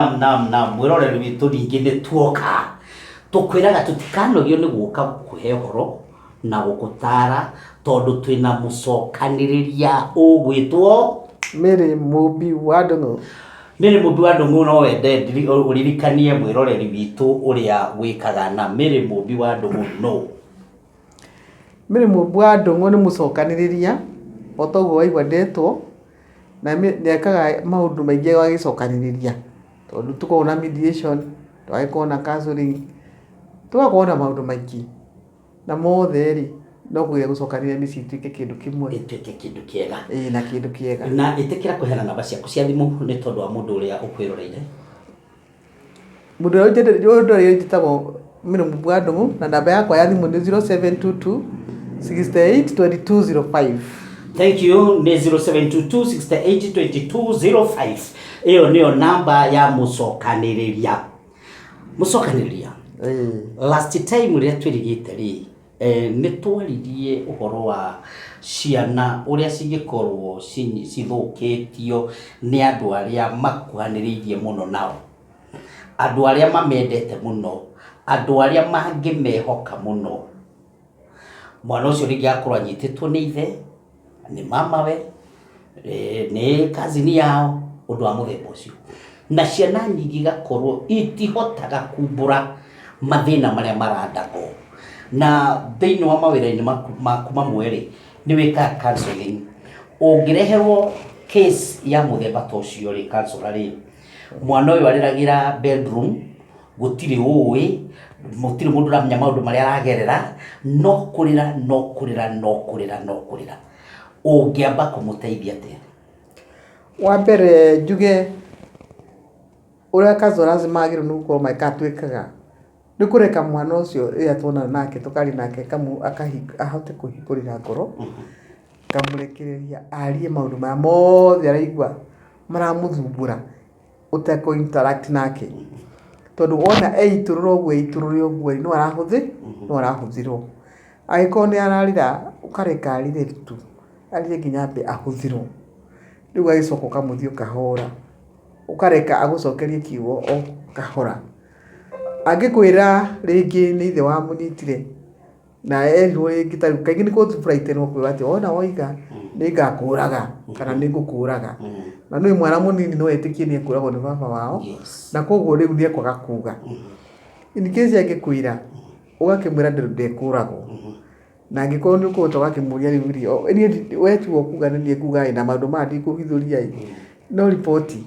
Naam, naam, naam. Mwĩroreri witũ ningĩ nĩ tuoka. Tũkwĩraga tũtikanogio nĩ gũka gũkũhe ũhoro na gũgũtara tondũ twĩna mũcokanĩrĩria ũgwĩtwo Mary Mũmbi wa Ndũng'ũ. Mary Mũmbi wa Ndũng'ũ no wende ndiri- ũririkanie mwĩroreri witũ ũrĩa wĩkaga na Mary Mũmbi wa Ndũng'ũ no. Mary Mũmbi wa Ndũng'ũ nĩ mũcokanĩrĩria o ta ũguo waigua ndetwo. na nĩekaga maũndũ maingĩ agĩcokanĩrĩria tondũ tũkoragwo na mediation, tũgagĩkorwo na counselling, tũgakorwo na maũndũ maingĩ na mothe rĩ no kũgeria gũcokanĩrĩria mĩciĩ ĩtuĩke kĩndũ kĩmwe ĩtuĩke kĩndũ kĩega ĩĩ na kĩndũ kĩega. Na ĩtĩkĩra kũheana namba ciaku cia thimũ nĩ tondũ wa mũndũ ũrĩa ũkwĩroreire. Mũndũ ũrĩa ũnjendete, mũndũ ũrĩa njĩtagwo Mĩrũmbwa Ndung'u, na namba yakwa ya thimũ nĩ 0722 68 2205. Thank you nĩ 0722682205 ĩyo nĩyo namba ya mũcokanĩrĩria mũcokanĩrĩria Ĩĩ. last time rĩrĩa twĩrigĩte rĩ Nĩ twaririe ũhoro wa ciana ũrĩa cingĩkorũo cithũkĩtio nĩ andũ arĩa makuhanĩrĩirie mũno nao, andũ arĩa mamendete mũno, andũ arĩa mangĩmehoka mũno. Mwana ũcio rĩngĩ agakorũo anyitĩtwo nĩ ithe. nĩ mamawe, eh, nĩ kazini yao, ũndũ wa mũthemba ũcio. Na ciana nyingĩ igakorwo itihotaga kumbũra mathĩna marĩa marandagwo. Na thĩinĩ wa mawĩra-inĩ maku maku mamwe-rĩ, nĩ wĩkaga counselling. Ũngĩreherwo case ya mũthemba ta ũcio-rĩ, counsellor-rĩ, mwana ũyũ arĩragĩra bedroom, gũtirĩ ũĩ, gũtirĩ mũndũ ũramenya maũndũ marĩa aragerera, no kũrĩra, no kũrĩra, no kũrĩra, no kũrĩra. Ũngĩamba kũmũteithia atĩa? Wa mbere njuge ũrĩa Kazoras magĩrĩirwo nĩ gũkorwo magĩka kana twĩkaga, nĩ kũreka mwana ũcio rĩrĩa tuonana nake tũkaria nake ahote kũhingũrĩra ngoro, ngamũrekereria arie maũndũ marĩa mothe araigua maramũthumbũra. ũtekũ interact nake tondũ wona eitũrũra ũguo eitũrũre ũguo no arahũthĩ no arahũthĩrwo agĩkorwo nĩ ararĩra ũkareka arĩre tu arĩre nginya ambe ahũthĩrwo rĩu ũgagĩcoka ũkamũthiĩ ũkahora ũkareka agũcokerie kiugo o kahora angĩkwĩra rĩngĩ nĩ ithe wamũnyitire. na erirwo rĩngĩ ta rĩu kaingĩ nĩ kũtu buraitirwo kuga atĩ wona woiga nĩ ngakũraga kana nĩ ngũkũraga na nĩ mwana mũnini no etĩkie nĩ ekũragwo nĩ baba wao Yes. na koguo rĩu nĩ ekwaga kuga in case angĩkwĩra ũgakĩmwĩra ndĩ- ndekũragwo na angĩkorwo nĩ ũkũhota ũgakĩmũria rĩu rĩ o- niĩ ndi- we tu ũkuga nĩ niĩ ngugaĩ na maũndũ maya ndikũhithũria ĩ no riboti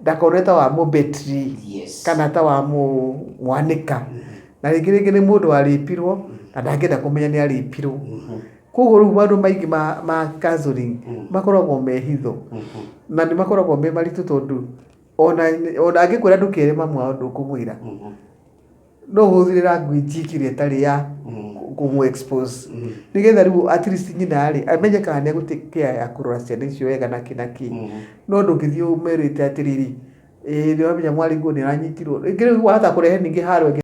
ndakorwo ta wa mũbetri yes. kana ta wa mwanĩka na rĩngĩ rĩngĩ nĩ mũndũ warĩpirwo na ndangĩenda kũmenya nĩ arĩpirwo mm-hmm. koguo rĩu maũndũ maingĩ ma, ma counseling mm. makoragwo me hitho mm-hmm. na nĩ makoragwo me maritũ tondũ ona angĩkwĩra ndũkere mamu wao ndũkũmwĩra mm-hmm. no hũthĩre language ĩkĩrĩa ĩtarĩ ya kũmũ expose nĩgetha rĩu at least nyina rĩ amenye kana nĩ egũtĩ care ya kũrora ciana icio wega na kĩ na kĩ no ndũngĩthiĩ ũmerĩte atĩrĩrĩ ĩĩ nĩ ũramenya mwarĩguo nĩ aranyitirwo rĩngĩ rĩu wahota kũrehe ningĩ haro ĩngĩ